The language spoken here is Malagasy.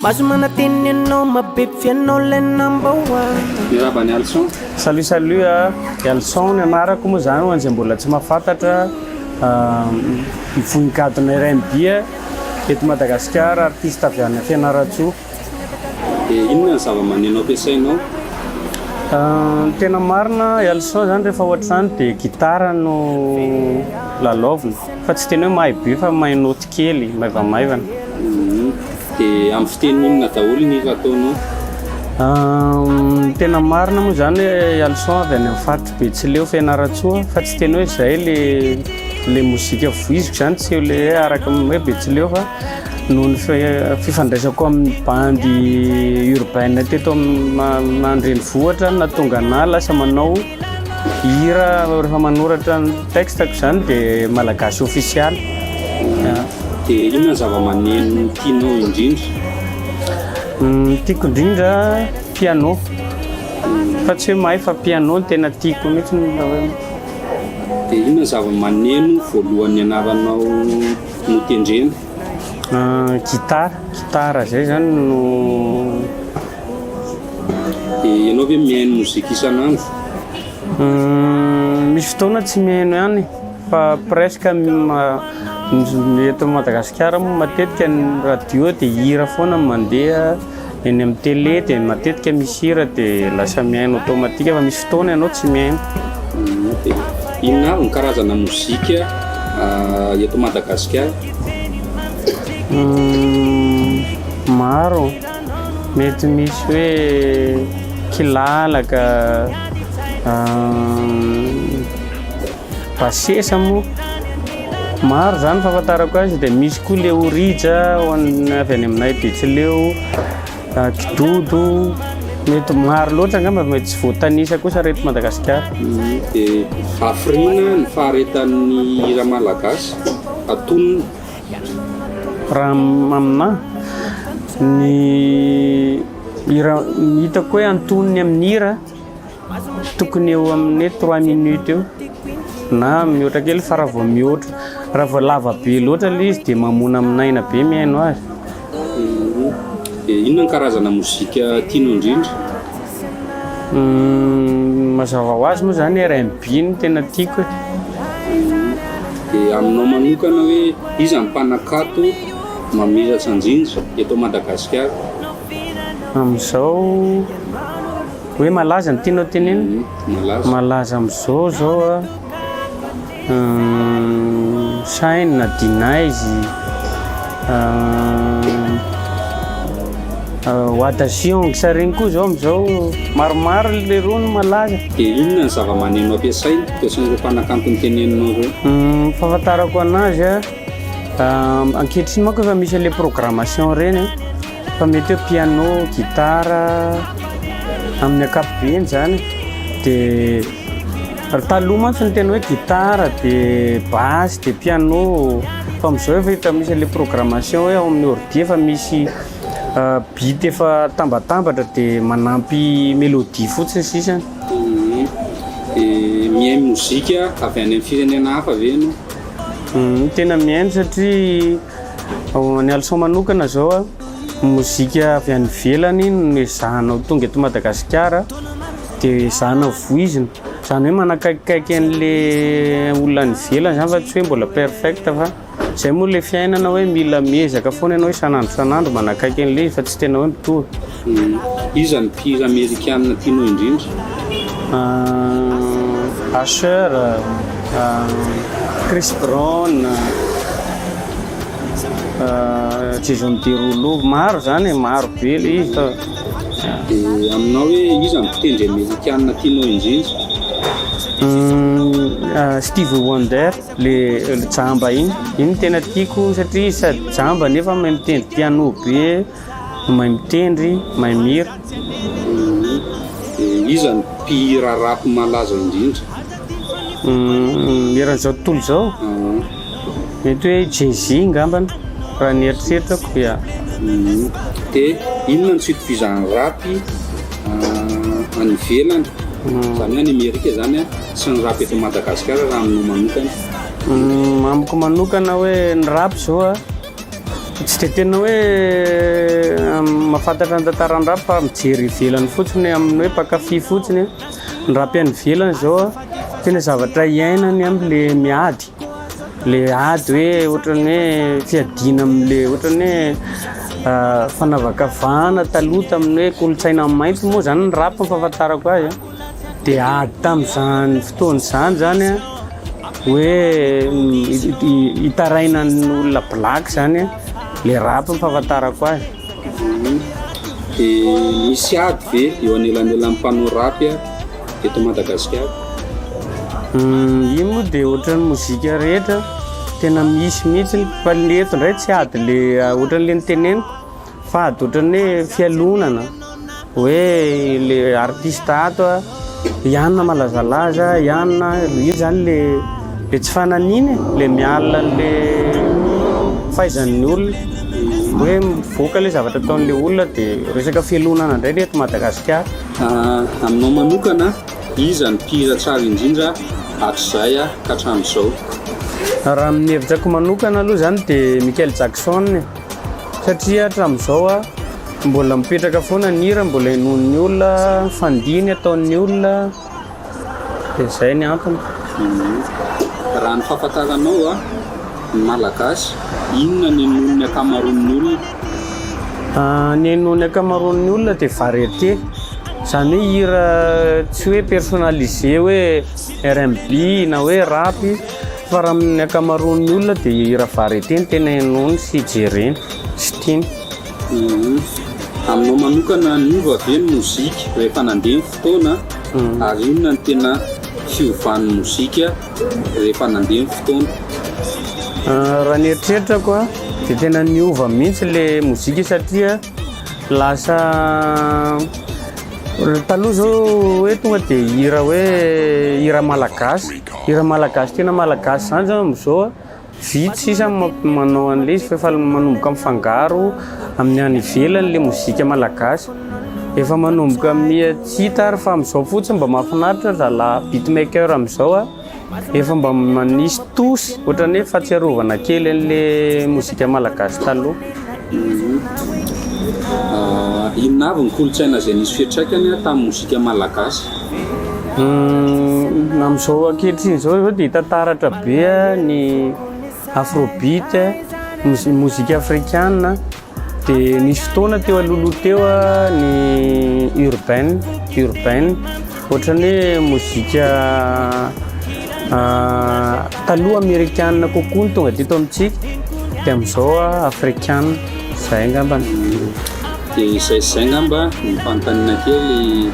Maso manateny ianao mabepp fianao lay number one. Miraba ny alison. Salut salut a, Elson ny anarako moa zany hoan'izay mbola tsy mahafantatra, vohikadona RNB eto Madagasikara, artiste avy any Fianarantsoa. Dia inona ny zavamaneno ampiasainao? Ny tena marina Elson zany rehefa ohatr'izany dia gitara no lalaovina fa tsy tena hoe mahay be fa mahay naoty kely maivamaivana. Dia amin'ny fiteny inona daholo ny hira ataonao? Ny tena marina moa izany hoe Alison avy any amin'ny faritry Betsileo Fianarantsoa fa tsy tena hoe izay ilay ilay mozika voiziko izany tsy eo ilay hoe araka ny hoe Betsileo fa noho ny fi- fifandraisako amin'ny bandy urbaine teto amin'ny ma- an-drenivohitra no nahatonga anahy lasa manao hira rehefa manoratra ny texte-ko izany dia malagasy ofisialy. Dia inona ny zava-maneno tianao indrindra? Ny tiako indrindra piano. Fa tsy hoe mahay fa piano no tena tiako mihitsy ny raha hoe. Dia inona ny zava-maneno voalohany nianaranao notendrena? Gitara, gitara izay izany no. Dia ianao ve mihaino mozika isan'andro? Misy fotoana tsy mihaino ihany e. Fa presque ny eto Madagasikara moa matetika ny radio dia hira foana no mandeha, eny amin'ny télé dia matetika misy hira dia lasa mihaino automatique fa misy fotoana ianao tsy mihaino. Inona avy ny karazana mozika eto Madagasikara? Maro, mety misy hoe kilalaka. Basesa moa maro zany fahafantarako azy dia misy koa le orija ho an'ny avy any aminay betsileo ah, kidodo mety maro loatra angamba mety tsy voatanisa kosa reto madagasikara dia hafiriana ny faharetan'ny hira malagasy atonina raha am- aminà ny hira ny hitako hoe antonony amin'ny hira Tokony eo amin'ny hoe trois minutes eo na mihoatra kely fa raha vao mihoatra raha vao lava be loatra ilay izy dia mamoana amin'ny aina be mihaino azy. Dia inona ny karazana mozika tianao indrindra? Mazava ho azy moa izany RNB no tena tiako e. Dia aminao manokana hoe iza ny mpanakanto mamiratra indrindra eto Madagasikara? Amin'izao hoe malaza ny tianao tenenina? Malaza. Malaza amin'izao zao a Shine na D-Nice, Wata Sion, sa regny koa zao am'zao maromaro leroa no malaza. De inona ny zavamaneno ampiasainy, ampiasain'ireo mpanakanto ny teneninao reo? Fahafantarako anazy a. Ankehitriny manko efa misy an'ilay programmation ireny fa mety hoe piano, guitare amin'ny ankapobeny zany dia taloha mantsy ny tena hoe guitare dia basse dia piano fa amin'izao efa hita misy an'ilay programmation hoe ao amin'ny ordi efa misy beat efa tambatambatra dia manampy mélodie fotsiny sisa. Dia mihaino mozika avy any amin'ny firenena hafa ve ianao? Uhm tena mihaino satria ao any Alison manokana zao a, mozika avy any ivelany iny no ezahanao tonga eto Madagasikara de ezahanao voizina, zany hoe manakaikikaiky an'le olona any ivelany zany fa tsy hoe mbola perfect fa zay moa le fiainana hoe mila miezaka foana ianao isan'andro isan'andro manakaiky an'le izy fa tsy tena hoe mitovy. Iza no mpihira amerikana tianao indrindra? Usher, Chris Brown, Jason Derulo, maro zany e, maro be le izy fa. Dia aminao hoe iza no mpitendry amerikana tianao indrindra? Stevie Wonder, le jamba iny, iny no tena tiako satria izy sady jamba nefa mahay mitendry piano be. Mahay mitendry, mahay mihira. Dia iza ny mpihira rap malaza indrindra? Eran'izao tontolo izao? Mety hoe Jay Z ngambany raha ny eritreritako, ya. Dia inona ny suite vizan'ny rap any ivelany, izany hoe any Amerika izany an, sy ny rap eto Madagasikara raha aminao manokana? Amiko manokana hoe ny rap izao an. Tsy dia tena hoe mahafantatra ny tantaran'ny rap fa mijery ivelany fotsiny hoe amin'ny hoe mpankafy fotsiny aho. Ny rap any ivelany izao tena zavatra iainany any le miady, le ady hoe ohatran'ny hoe fiadiana am'le ohatran'ny hoe fanavakavahana taloha tamin'ny hoe kolontsaina mainty moa zany ny rap fahafantarako azy a. Dia ady tamin'izany fotoana izany zany hoe hitaraina ny olona black zany le rap ny fahafantarako azy. Dia misy ady ve eo anelanelan'ny mpanao rap eto Madagasikara? Iny moa dia ohatran'ny mozika rehetra tena misy mihitsy fa ny eto indray tsy ady le ohatran'le noteneniko. Fady ohatran'ny hoe fialonana hoe le artiste ato a ianona malazalaza ianona io zany le le tsy fananiana e le miala an'le fahaizan'ny olona hoe mivoaka le zavatra ataon'le olona de resaka fialonana indray ny eto Madagasikara aminao manokana iza ny mpihira tsara indrindra hatrizay ka hatramin'izao raha ny hevitrako manokana aloha zany de Michael Jackson e Satria hatramin'izao mbola mipetraka foana ny hira, mbola henoin'ny olona, fandihy ataon'ny olona, dia izay ny antony. Raha ny fahafantaranao ny Malagasy, inona no henoin'ny ankamaroan'ny olona? Ny henoin'ny ankamaroan'ny olona dia variété, izany hoe hira tsy hoe personnalisé hoe. RMB na hoe rap fa raha amin'ny ankamaroan'ny olona dia hira varieté no tena henoiny sy jereny sy tiany. Aminao manokana niova ve ny mozika rehefa nandeha ny fotoana ary inona no tena fiovan'ny mozika rehefa nandeha ny fotoana? Raha ny eritreritako dia tena niova mihitsy ilay mozika satria Lasa taloha zao hoe tonga dia hira hoe hira malagasy, hira malagasy tena malagasy zany zao amizao vitsy sisa manao an'le izy f'efa manomboka mifangaro amin'ny any ivelany le mozika malagasy, efa manomboka miha tsy hita ary fa amizao fotsiny mba mahafinaritra zalahy beatmaker amizao a. Efa mba manisy touche ohatran'ny hoe fahatsiarovana kely an'le mozika malagasy taloha. Inona avy ny kolontsaina izay nisy fiantraikany tamin'ny mozika malagasy? Amin'izao ankehitriny izao izao dia hita taratra be ny afrobeat, ny mozika afrikana. Dia nisy fotoana teo alohaloha teo ny urbain, urbain, ohatran'ny hoe mozika taloha amerikana kokoa ny tonga teto amintsika, dia amin'izao afrikana, izay angambany. Dia izay izay angamba ny fanontaniana kely.